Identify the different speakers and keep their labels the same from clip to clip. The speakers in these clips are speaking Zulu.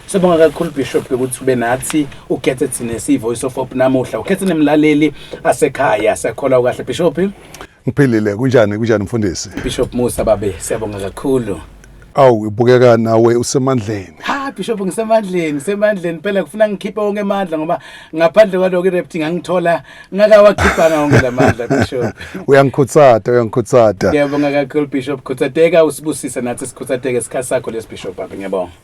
Speaker 1: Sibonga kakhulu Bishop ukuthi ube nathi ukhethe thina si Voice of Hope namuhla ukhethe nemlaleli asekhaya sakholwa kahle Bishop Ngiphilile
Speaker 2: kunjani kunjani mfundisi Bishop Musa babe
Speaker 1: siyabonga kakhulu Awu ibukeka
Speaker 2: nawe usemandleni. Ha Bishop
Speaker 1: ngisemandleni, ngisemandleni phela kufuna ngikhiphe wonke amandla ngoba ngaphandle kwaloko irepti ngangithola ngakawakhiphanga wonke lamandla Bishop. Uyangikhutsata,
Speaker 2: uyangikhutsata. Ngiyabonga kakhulu
Speaker 1: Bishop, khuthateka usibusise nathi sikhutsateke isikhathi sakho lesi Bishop, ngiyabonga.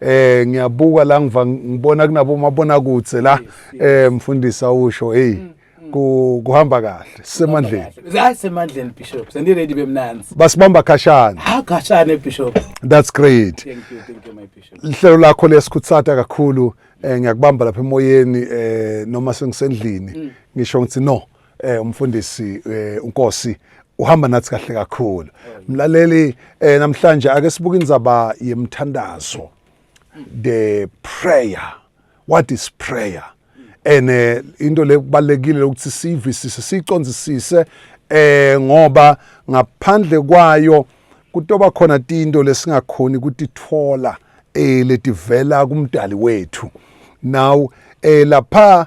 Speaker 2: eh ngiyabuka la ngiva ngibona kunabo mabona kutse la eh mfundisi awusho hey mm, mm. kuhamba kahle semandleni hayi semandleni
Speaker 1: bishop sendi ready bemnanzi basibamba khashana
Speaker 2: ha khashana bishop
Speaker 1: that's great thank you
Speaker 2: thank you my
Speaker 1: bishop lihlelo lakho lesikhutsata
Speaker 2: kakhulu eh ngiyakubamba lapha emoyeni eh noma sengisendlini mm. ngisho ngithi no eh umfundisi eh, uNkosi uhamba nathi kahle kakhulu mlaleli eh, namhlanje ake sibuke indzaba yemthandazo the prayer what is prayer and eh, into lekubalekile ukuthi siyivisise siyiconzisise eh ngoba ngaphandle kwayo kutoba khona tinto lesingakhoni kutithola eh letivela kumdali wethu now eh lapha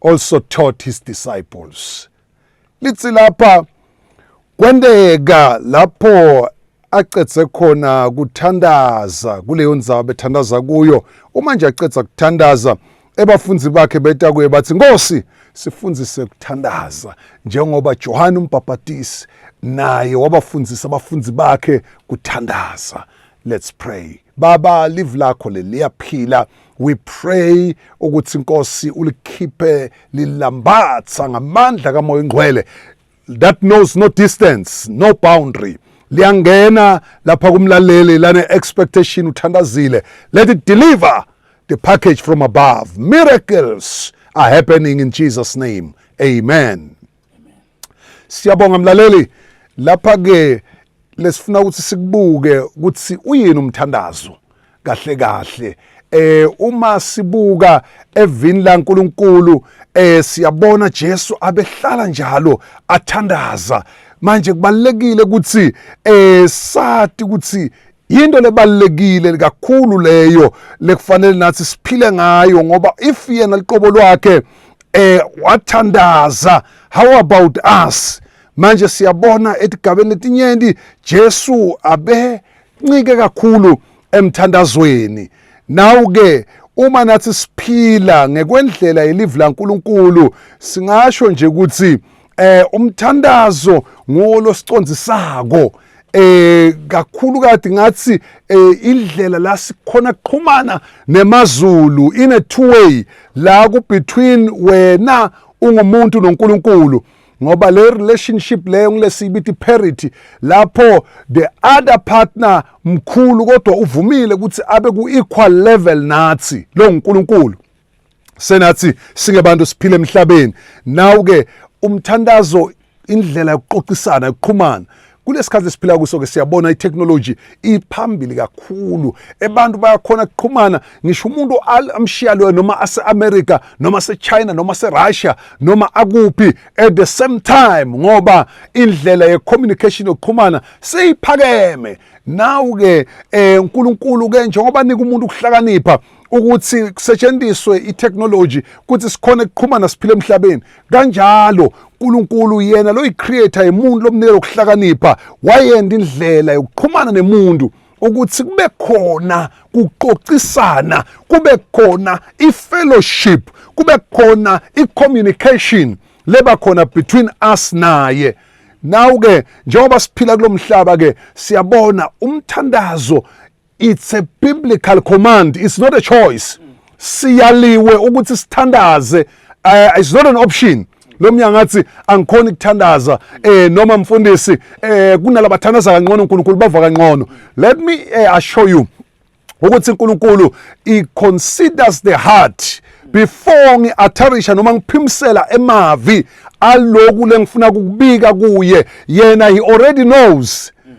Speaker 2: also taught his disciples. Lithi lapha kwenteka lapho acedze khona kuthandaza kuleyo ndzaba bethandaza kuyo uma nje acedza kuthandaza ebafunzi bakhe beta kuye bathi nkosi sifundise kuthandaza njengoba johane umbhabhatisi naye wabafundisa abafunzi bakhe kuthandaza let's pray Baba live lakho leli liyaphila we pray ukuthi inkosi ulikhiphe lilambatha ngamandla kamoya ingcwele that knows no distance no boundary liyangena lapha kumlaleli lane expectation uthandazile let it deliver the package from above miracles are happening in Jesus name amen Siyabonga mlaleli lapha ke lesifuna ukuthi sikubuke ukuthi uyini umthandazo kahle kahle eh uma sibuka evini laNkuluNkulu eh siyabona Jesu abehlala njalo athandaza manje kubalekile ukuthi eh sati ukuthi Yinto lebalulekile kakhulu leyo lekufanele nathi siphile ngayo ngoba if yena liqobo lwakhe eh wathandaza how about us manje siyabona etigabeni letinyenti Jesu abe ncike kakhulu emthandazweni nawu ke uma nathi siphila ngekwendlela yelivi laNkuluNkulu singasho nje ukuthi eh umthandazo ngolosicondzisako eh kakhulu kade ngathi eh, indlela la sikhona kuqhumana nemazulu in a two way la ku between wena ungumuntu noNkulunkulu ngoba le relationship leyo ngilesibithi parity lapho the other partner mkhulu kodwa uvumile ukuthi abe ku equal level nathi lo uNkulunkulu senathi singebantu siphile emhlabeni nawu ke umthandazo indlela yokuxoxisana yokuqhumana kulesikhathi esiphila kuso ke siyabona itechnology iphambili kakhulu abantu bayakhona ukuqhumana ngisho umuntu amshiya loyo noma ase-america noma sechina noma serussia noma akuphi at the same time ngoba indlela ye-communication yokuqhumana seyiphakeme nawu-ke um eh, nkulunkulu-ke njengoba nika umuntu ukuhlakanipha ukuthi kusetshenziswe itechnology ukuthi sikhone kuqhumana siphile emhlabeni kanjalo uNkulunkulu yena lo yicreator yemuntu lomnikelo ukuhlakanipha wayenda indlela yokuqhumana nemuntu ukuthi kube khona kuxoxisana kube khona ifellowship kube khona icommunication leba khona between us naye nawu ke njengoba siphila kulomhlaba ke siyabona umthandazo It's a biblical command, it's not a choice. Siyaliwe ukuthi sithandaze, uh, it's not an option. lo mnyango athi angikhona ukuthandaza eh noma mfundisi eh kunalabathandaza kangcono uNkulunkulu bava kangcono let me eh, assure you ukuthi uNkulunkulu he considers the heart before ngiatharisha noma ngiphimisela emavi aloku lengifuna ukubika kuye yena he already knows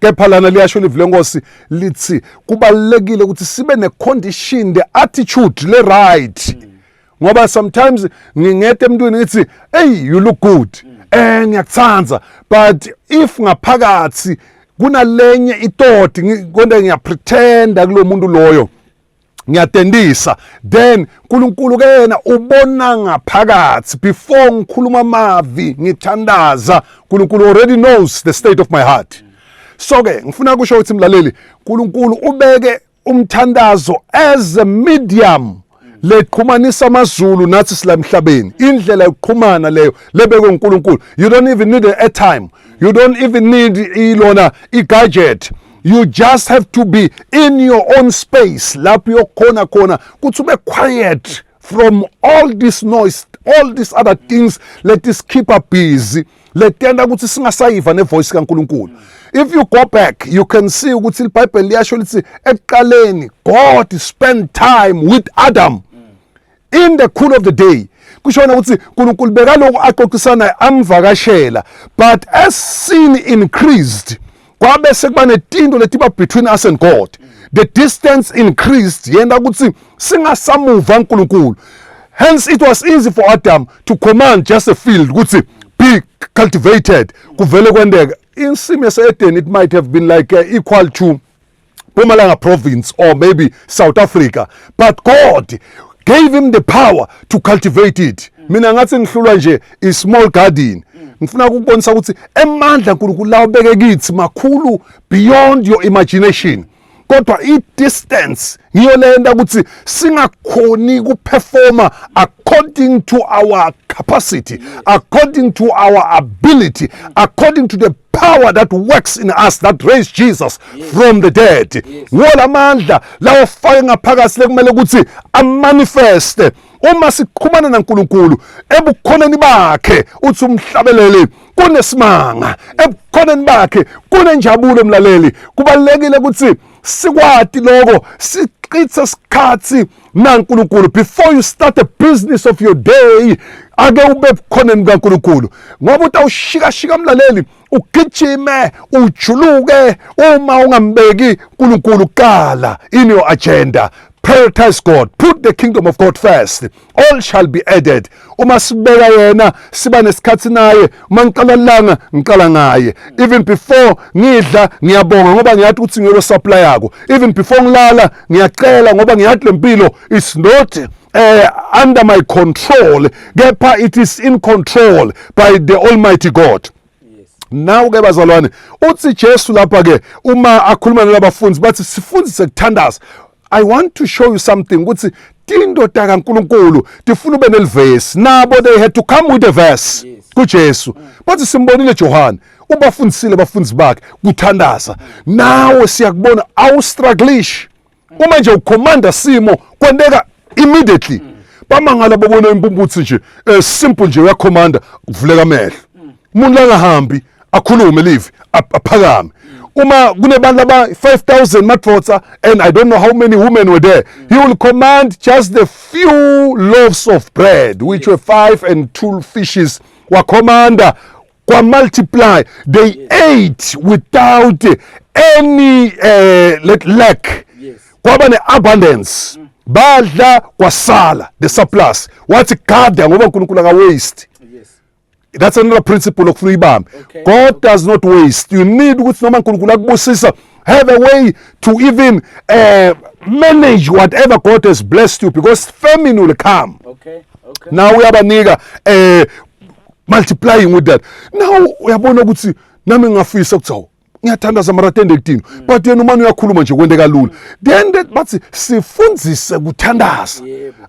Speaker 2: kepha lana liyasho ilizwi lenkosi lithi kubalulekile ukuthi sibe ne-condition the attitude le-right ngoba sometimes ngingete emntwini ngithi eyi you look good um ngiyakuthanda but if ngaphakathi kunalenye itoti konde ngiyapretenda kulo muntu loyo ngiyatendisa then uNkulunkulu kena ubona ngaphakathi before ngikhuluma amavi ngithandaza uNkulunkulu already knows the state of my heart so ke ngifuna kusho ukuthi mlaleli uNkulunkulu ubeke umthandazo as a medium leqhumanisa amazulu nathi sila emhlabeni indlela yokuqhumana leyo lebekwe uNkulunkulu you don't even need an airtime you don't even need ilona igadget you just have to be in your own space lapho uyokhona khona kuthi ube quiet from all this noise all these other things let us keep up busy letenta ukuthi singasayiva nevoice kaNkuluNkulu if you go back you can see ukuthi iBhayibheli liyasho lithi ekuqaleni God spent time with Adam in the cool of the day kushona ukuthi uNkulunkulu bekaloku axoxisana amvakashela but as sin increased kwabe sekuba netinto letiba between us and God the distance increased yena ukuthi singasamuva uNkulunkulu hence it was easy for Adam to command just a field ukuthi be cultivated kuvele kwendeka insimu yaseEden it might have been like uh, equal to Mpumalanga province or maybe South Africa but God gave him the power to cultivate it mina ngathi ngihlulwa nje i small garden ngifuna ukubonisa ukuthi emandla uNkulunkulu lawo beke kithi makhulu beyond your imagination kodwa i-distance ngiyo lenta ukuthi singakhoni kuperforma according to our capacity according to our ability according to the power that works in us that raised Jesus yes. from the dead yes. wola mandla lawo fake ngaphakathi lekumele ukuthi amanifeste uma siqhumana naNkulunkulu ebukhoneni bakhe uthi umhlabeleli kunesimanga ebukhoneni bakhe kunenjabulo mlaleli kubalekile ukuthi sikwati lokho sichithe isikhathi na uNkulunkulu before you start a business of your day ake ube bukhoneni bukaNkulunkulu ngoba utawushikashika mlaleli ugijime ujuluke uma ungambeki uNkulunkulu kala in your agenda prioritize God put the kingdom of God first all shall be added uma sibeka yena siba nesikhathi naye uma ngiqala langa ngiqala ngaye even before ngidla ngiyabonga ngoba ngiyathi ukuthi ngiyolo supply yako even before ngilala ngiyacela ngoba ngiyathi lempilo is not uh, under my control kepha it is in control by the almighty god Nawu-ke bazalwane, uthi Jesu lapha-ke uma akhuluma nalabafundi bathi sifundise kuthandaza. I want to show you something ukuthi tindoda kaNkuluNkulu tifuna ube nelivesi. Nabo they had to come with a verse kuJesu. Bathi simbonile Johane ubafundisile abafundi bakhe kuthandaza. Nawe siyakubona awustrugglish. uma nje ucommander simo kwenteka immediately bamangala babona impumputsi nje eh, simple nje uyakhomanda kuvuleka amehlo umuntu langahambi akhulume live aphakame uma kunebantu aba 5000 madvodza and i don't know how many women were there he will command just the few loaves of bread which were five and two fishes wakhomanda kwa multiply they ate without any uh, let lack yes. kwaba ne-abundance mm. badla kwasala the surplus wathi gada ngoba unkulunkulu akawaste that's another principle okufuna uyibambe okay. god does
Speaker 1: not waste
Speaker 2: you need ukuthi noma nkulunkulu akubusisa have a way to even uh, manage whatever god has blessed you because famine will come okay. Okay.
Speaker 1: nawe uyabanika
Speaker 2: um uh, multiplying with that now uyabona ukuthi nami ngingafisa ukuthi awu ngiyathandaza mara tende kudinwa mm. but yena umane uyakhuluma nje kwenteka lula then that bathi sifundise kuthandaza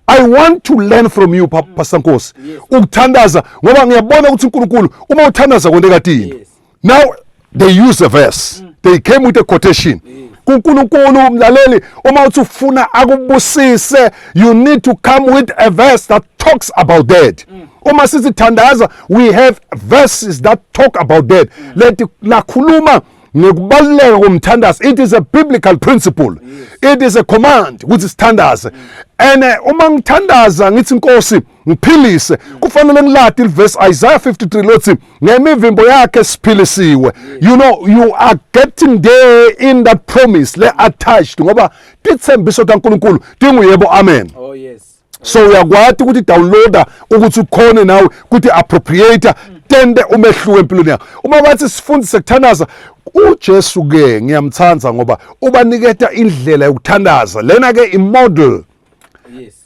Speaker 2: i want to learn from you mm. pastor nkosi ukuthandaza ngoba ngiyabona ukuthi uNkulunkulu uma uthandaza kwenteka tini now they use a verse mm. they came with a quotation mm. kuNkulunkulu umlaleli uma uthi ufuna akubusise you need to come with a verse that talks about that mm. uma sisithandaza we have verses that talk about that mm. leti lakhuluma ngekubaluleka komthandazo it is a biblical principle yes. it is a command ukuthi sithandaze mm. and eh, uma ngithandaza ngithi inkosi ngiphilise kufanele ngilade ilivesi Isaiah 53 lothi ngemivimbo yakhe siphilisiwe you know you are getting there in that promise le attached ngoba tithembiso kaNkuluNkulu tinguyebo amen oh yes
Speaker 1: so uyakwati
Speaker 2: ukuthi downloader ukuthi ukhone nawe ukuthi appropriate tende umehluko empilweni yakho uma bathi sifundise kuthandaza uJesu ke ngiyamthanda ngoba ubaniketa indlela yokuthandaza lena ke imodel yes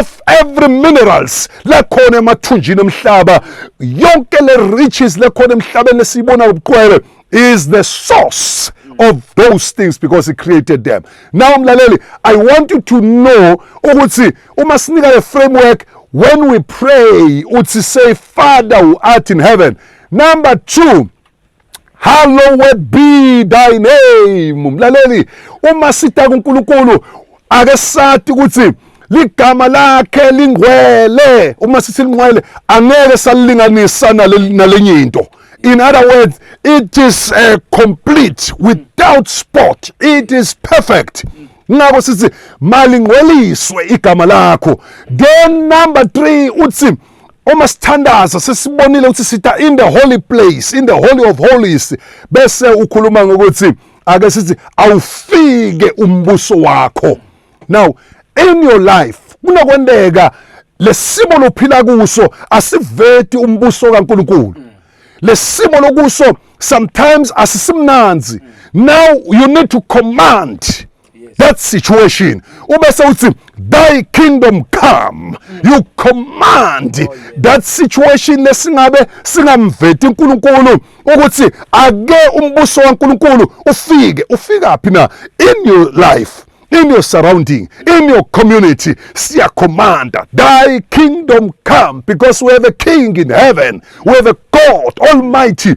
Speaker 2: of every minerals lekhona emathunjini omhlaba yonke le riches lekhona emhlabeni lesiyibona ubuqwele is the source of those things because he created them now mlaleli i want you to know ukuthi uma sinika le framework when we pray uthi say father who art in heaven number 2 Hallowed be thy name. Mlaleli, uma sita kuNkulunkulu ake sati ukuthi ligama lakhe lingcwele. Uma sithi lingcwele angeke salilinganisa nalenye into. In other words, it is uh, complete without spot. It is perfect. Ngakho sithi malingcweliswe igama lakho. Then number 3 uthi uma sithandaza sesibonile ukuthi sitha in the holy place in the holy of holies bese ukhuluma ngokuthi ake sithi awufike umbuso wakho now in your life kunokwendeka lesimo lophila kuso asiveti umbuso kaNkuluNkulu lesimo lokuso sometimes asisimnanzi now you need to command that situation ubese uthi thy kingdom come you command oh, that situation lesingabe singamveti uNkulunkulu ukuthi ake umbuso waNkulunkulu ufike ufika phi na in your life in your surrounding, in your community, see a command, thy kingdom come, because we have a king in heaven, we have a God Almighty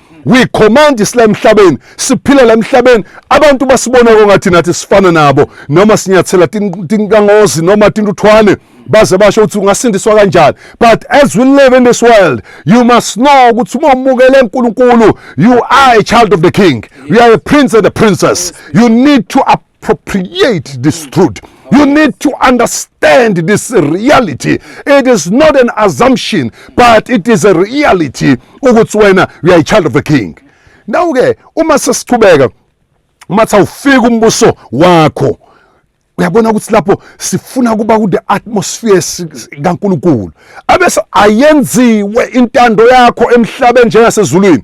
Speaker 2: we command isila emhlabeni siphila la emhlabeni abantu basibona kongathi nathi sifana nabo noma sinyathela tinkangozi noma tintuthwane baze basho ukuthi ungasindiswa kanjani but as we live in this world you must know ukuthi uma umukele uNkulunkulu you are a child of the king you are a prince and a princess you need to appropriate this truth. You need to understand this reality. It is not an assumption, but it is a reality ukuthi wena you are a child of the king. Now ke uma sesiqhubeka uma sawufika umbuso wakho uyabona ukuthi lapho sifuna kuba ku the atmosphere kaNkuluNkulu abese ayenziwe intando yakho emhlabeni njengasezulwini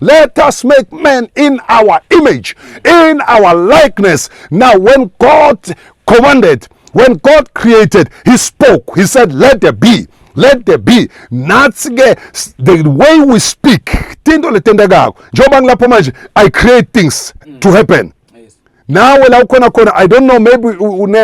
Speaker 2: Let us make man in our image, in our likeness. Now, when God commanded, when God created, He spoke. He said, Let there be. let there be nathi ke the way we speak tinto letentekako njengoba ngilapho manje i create things to mm. happen nawe la ukhona khona i don't know maybe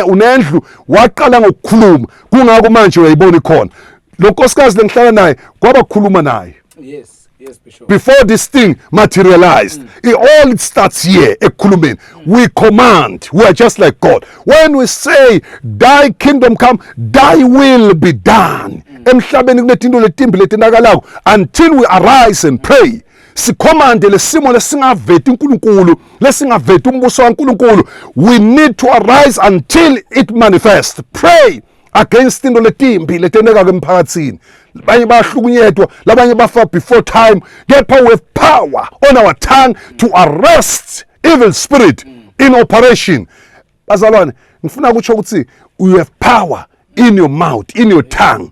Speaker 2: unendlu waqala ngokukhuluma kungako manje uyayibona ikhona lo nkosikazi lengihlala naye kwabakhuluma naye yes Yes, Bishop.
Speaker 1: Before this thing
Speaker 2: materialized, mm. it all it starts here. Ekulumen, mm. we command. We are just like God. When we say, "Thy kingdom come, Thy will be done," mm. emhlabeni kunetinto letimbi letinakalayo until we arise and pray. sikhomande lesimo lesingaveti uNkulunkulu lesingaveti umbuso kaNkulunkulu we need to arise until it manifests pray against into letimbi letenekaka emphakathini abanye bayahlukunyetwa labanye bafa before time kepha we have power on our tongue to arrest evil spirit in operation bazalwane ngifuna kutsho ukuthi you have power in your mouth in your tongue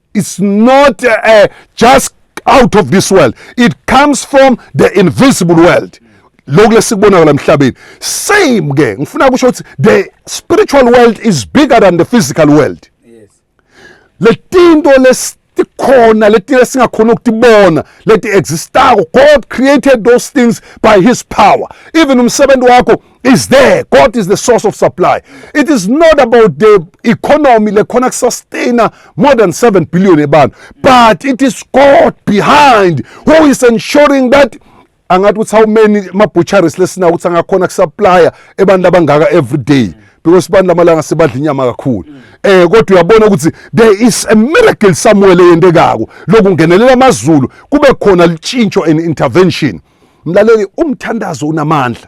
Speaker 2: It's not uh, just out of this world. It comes from the invisible world. lokhu lesikubona la mhlabeni same ke ngifuna kusho ukuthi the spiritual world is bigger than the physical world yes
Speaker 1: letinto
Speaker 2: lesikhona leti lesingakhona ukutibona leti existako god created those things by his power even umsebenzi wakho is there god is the source of supply it is not about the economy lekhona kusustaina more than 7 billion ebantu but it is god behind who is ensuring that angathi ukuthi how many ama-butcheries lesinawo ukuthi angakhona kusupplya ebantu abangaka every day because abantu lamalanga sebadla inyama kakhulu eh kodwa uyabona ukuthi there is a miracle somewhere leyendekako lokungenelela amazulu kube khona litshintsho and intervention mlaleli umthandazo unamandla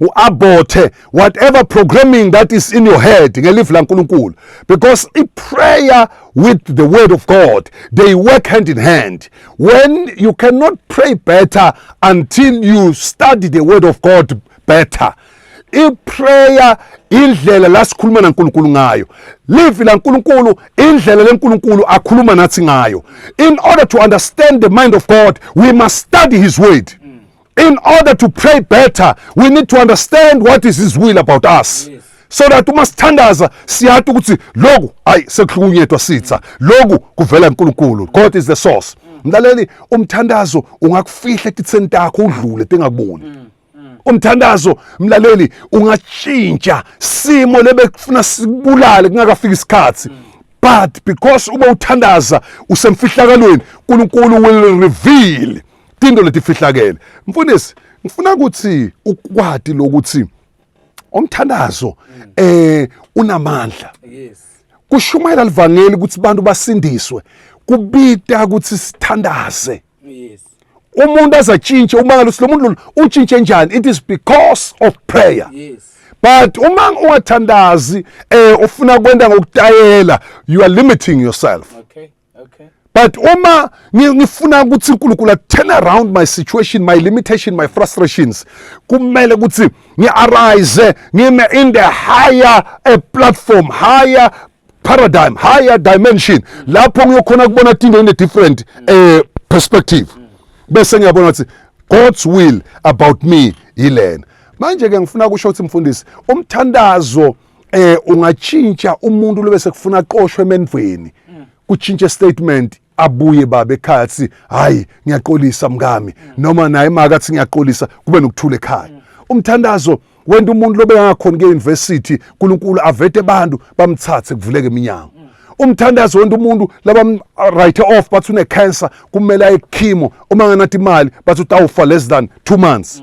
Speaker 2: uabothe whatever programming that is in your head ngelifu lankulunkulu because iprayer with the word of god they work hand in hand when you cannot pray better until you study the word of god better iprayer indlela la sikhuluma naNkulunkulu ngayo livi laNkulunkulu indlela leNkulunkulu akhuluma nathi ngayo in order to understand the mind of God we must study his word In order to pray better, we need to understand what is his will about us. Yes. so that uma sithandaza siyati ukuthi loku ayi sekuhlukunyetwa sitha loku kuvela uNkulunkulu God is the source mlaleli umthandazo ungakufihla etitheni takho udlule tingakuboni mm, mm. umthandazo mlaleli ungatshintsha simo lebekufuna sibulale kungakafiki isikhathi mm. but because uma uthandaza usemfihlakalweni uNkulunkulu will reveal tinto letifihlakele mfundisi ngifuna ukuthi ukwati lokuthi umthandazo eh unamandla yes
Speaker 1: kushumayela
Speaker 2: livangeli ukuthi abantu basindiswe kubita ukuthi sithandaze yes
Speaker 1: umuntu
Speaker 2: azatshintshe uma ngaluthi lo muntu utshintshe njani it is because of prayer yes but
Speaker 1: uma
Speaker 2: ungathandazi eh ufuna kwenda ngokutayela you are limiting yourself okay
Speaker 1: Okay. But uma
Speaker 2: ngifuna ukuthi uNkulunkulu a turn around my situation, my limitation, my frustrations, kumele ukuthi ngi-arise ngime in the higher a eh, platform, higher paradigm, higher dimension. Lapho ngiyokhona kubona into in a different uh, perspective. Bese ngiyabona ukuthi God's will about me yilena. Manje ke ngifuna kusho ukuthi mfundisi umthandazo eh ungatshintsha umuntu lobe sekufuna qoshwe emendweni kutshintshe statement abuye baba ekhaya athi hayi ngiyaqolisa mkami noma naye maka athi ngiyaqolisa kube nokuthula ekhaya umthandazo wenda umuntu lobe angakhona ke-university unkulunkulu avete abantu bamthathe kuvuleke iminyango umthandazo wonke umuntu laba right off bathi une cancer kumele aye kuchemo uma nganathi imali bathi utawufa less than 2 months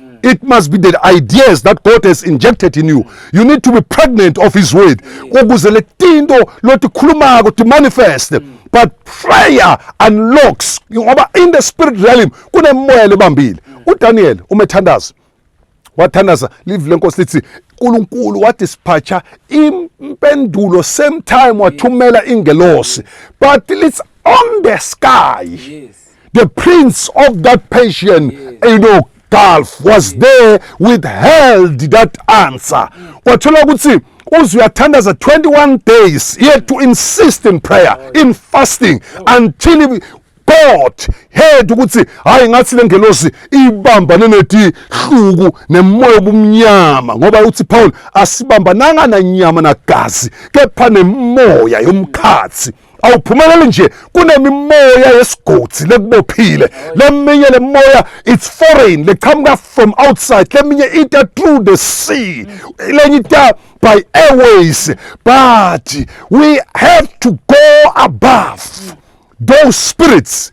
Speaker 2: Mm. It must be the ideas that God has injected in you. You need to be pregnant of His word. Ukuze le tinto lothi khulumako to manifest. Mm. But prayer unlocks ngoba in the spirit realm kunemoya lebambile. Mm. UDaniel umethandaza wathandaza live lenkosi lithi uNkulunkulu wadispatcha impendulo same time wathumela ingelosi but it's on the sky. Yes. The
Speaker 1: prince
Speaker 2: of that Persian, you know, Gulf was there withheld that answer. Kwathola ukuthi uze uyathandaza 21 days yet to insist in prayer oh, in fasting oh. until God heard ukuthi hayi ngathi lengelosi ibambane neti hluku nemoya obumnyama ngoba uthi Paul asibambananga nanyama nagazi kepha nemoya yomkhathi awuphumeleli nje kunemimoya yesigodi lekubophile leminye lemoya it's foreign leqhamuka from outside leminye ita through the sea lenye ita by airways but we have to go above those spirits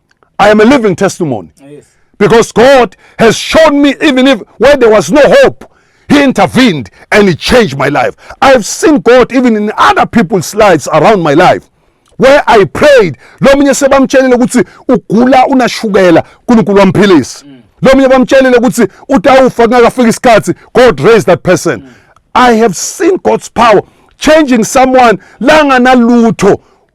Speaker 2: I am a living testimony. Yes. Because
Speaker 1: God
Speaker 2: has shown me, even if where there was no hope, He intervened and He changed my life. I've seen God even in other people's lives around my life. Where I prayed, lo munye sebamtshelile ukuthi ugula unashukela, uNkulunkulu wamphilisa. Mm. Lo munye bamtshelile ukuthi utawufa kungakafika isikhathi, God raised that person. Mm. I have seen God's power changing someone langanalutho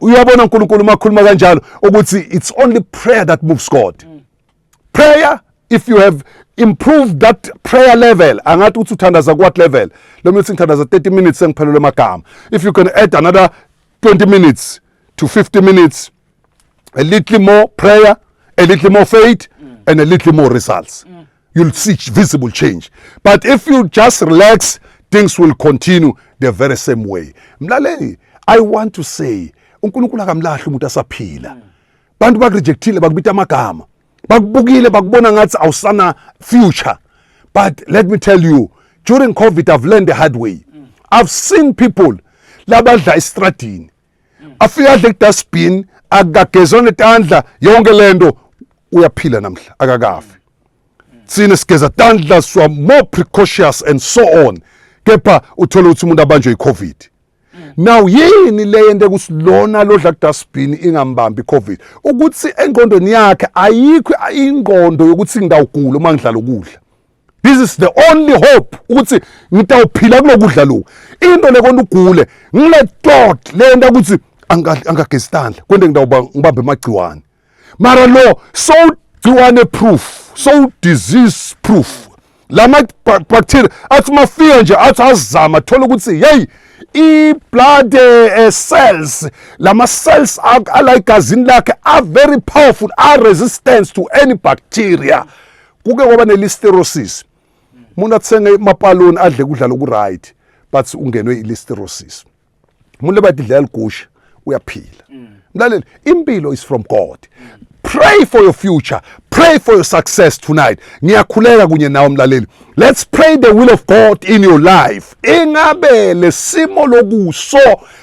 Speaker 2: uyabona uNkulunkulu uma khuluma kanjalo ukuthi it's only prayer that moves God mm. prayer if you have improved that prayer level angathi uthi uthandaza what level lo mina uthi ngithandaza 30 minutes sengiphelelwe amagama if you can add another 20 minutes to 50 minutes a little more prayer a little more faith mm. and a little more results mm. you'll see visible change but if you just relax things will continue the very same way mlaleli i want to say unkulunkulu akamlahli umuntu asaphila bantu bakurejectile bakubita amagama bakubukile bakubona ngathi awusana future but let me tell you during covid i've learned the hard way i've seen people labadla estradini afike adle kudustbin akagezwa netandla yonke lento uyaphila namhla akakafi sine sigeza tandla swa more precautious and so on kepha uthole ukuthi umuntu abanjwe icovid now yini le yento kusilona lodla kudustbin ingambambi icovid ukuthi engqondweni yakhe ayikho ingqondo yokuthi ngingawugula uma ngidlala ukudla this is the only hope ukuthi ngitawuphila kulokudla loku into lekona ugule ngile tot lento ukuthi angagestandla kwente ngitawuba ngibambe amagciwane mara lo so gciwane proof so disease proof lama bacteria athi mafika nje athi azama thola ukuthi hey i-blood uh, cells lama cells ala egazini lakhe are very powerful are resistance to any bacteria kuke kwaba nelisterosis umuntu athenge amapaloni adle kudla lokuright but ungenwe ilisterosis umuntu lebathi idlela ligusha uyaphila mlaleli impilo is from god pray for your future pray for your success tonight ngiyakhuleka kunye nawe mlaleli let's pray the will of god in your life ingabe lesimo lokuso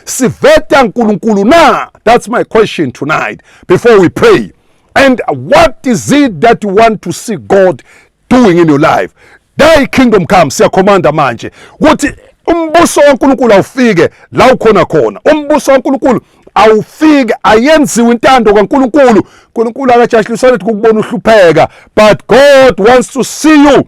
Speaker 2: siveta nkulunkulu na that's my question tonight before we pray And what is it that you want to see God doing in your life? Thy kingdom come, siyakhomanda manje ukuthi umbuso kaNkulunkulu awufike la ukhona khona. Umbuso kaNkulunkulu awufike ayenziwe intando kaNkulunkulu. uNkulunkulu akajahliswa ukuthi kukubona uhlupheka, but God wants to see you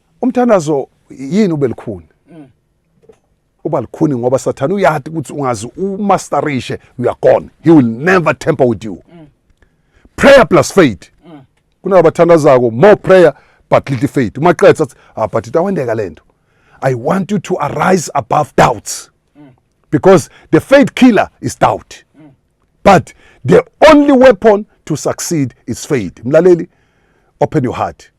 Speaker 2: Umthandazo yini ubelukhuni? Mm. Uba lukhuni ngoba sathana uyati ukuthi ungazi umasterishe you are gone. He will never temper with you. Mm. Prayer plus faith. Mm. Kunabo bathandazako more prayer but little faith. Uma qetha athi ah but itawendeka lento. I want you to arise above doubts. Mm. Because the faith killer is doubt. Mm. But the only weapon to succeed is faith. Mlaleli open your heart.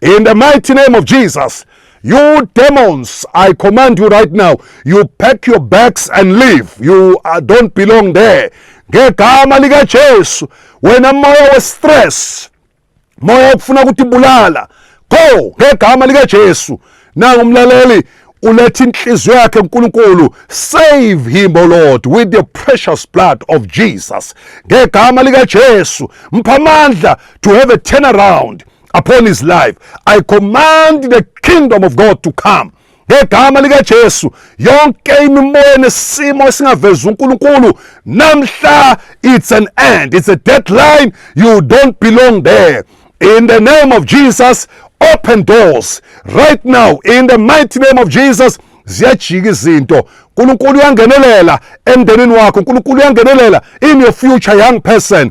Speaker 2: In the mighty name of Jesus, you demons, I command you right now, you pack your bags and leave. You uh, don't belong there. Ngegama lika Jesu, wena moya we stress, moya ukufuna ukuthi bulala. Go ngegama lika Jesu. Nangu umlaleli uletha inhliziyo yakhe uNkulunkulu save him o Lord with the precious blood of Jesus ngegama lika Jesu mpha amandla to have a turnaround upon his life i command the kingdom of god to come ngegama likaJesu yonke imimoya nesimo esingavezi uNkulunkulu namhla it's an end it's a deadline you don't belong there in the name of Jesus open doors right now in the mighty name of Jesus ziyajika izinto uNkulunkulu uyangenelela emndenini wakho uNkulunkulu uyangenelela in your future young person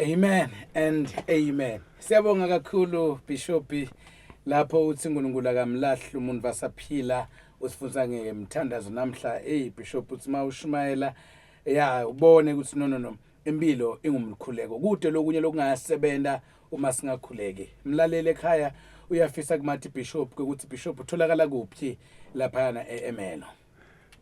Speaker 1: Amen and amen. Siyabonga kakhulu Bishop lapho uthi uNkulunkulu akamlahli umuntu vasaphila usifunza ngemthandazo namhla hey Bishop uthi mawushumayela ya ubone ukuthi no no no impilo ingumkhuleko kude lokunye lokungasebenza uma singakhuleki mlalele ekhaya uyafisa kumathi bishop ukuthi bishop utholakala kuphi lapha na eMelo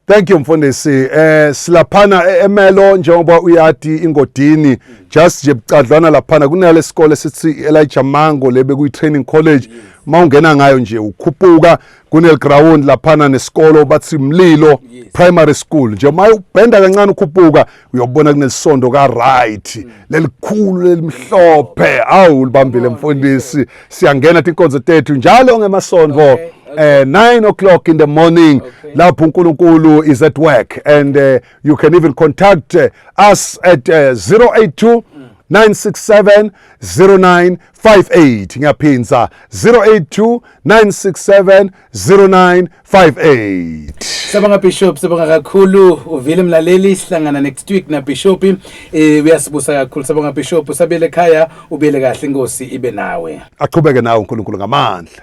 Speaker 1: Thank
Speaker 2: you mfundisi. Eh silaphana e-, eMelo njengoba uyati ingodini just nje bucadlwana laphana kunale sikole sithi Elijah Mango lebe kuyi training college mawungena ngayo nje ukhuphuka kunel ground laphana nesikolo bathi Mlilo primary school nje mayubhenda kancane ukhuphuka uyobona kunesondo ka right mm. lelikhulu lelimhlophe awu libambile mfundisi siyangena tinkonzo tethu njalo ngemasondo okay. Uh, nine o'clock in the morning okay. lapho uNkulunkulu is at work and uh, you can even contact uh, us at uh, 082 967 0958 ngiyaphindza 082 967 09 58 Sabanga Bishop
Speaker 1: sabanga kakhulu uvile mlaleli sihlangana next week na Bishop eh uyasibusa kakhulu sabanga Bishop usabele ekhaya ubele kahle inkosi ibe nawe
Speaker 2: Aqhubeke
Speaker 1: nawe uNkulunkulu
Speaker 2: ngamandla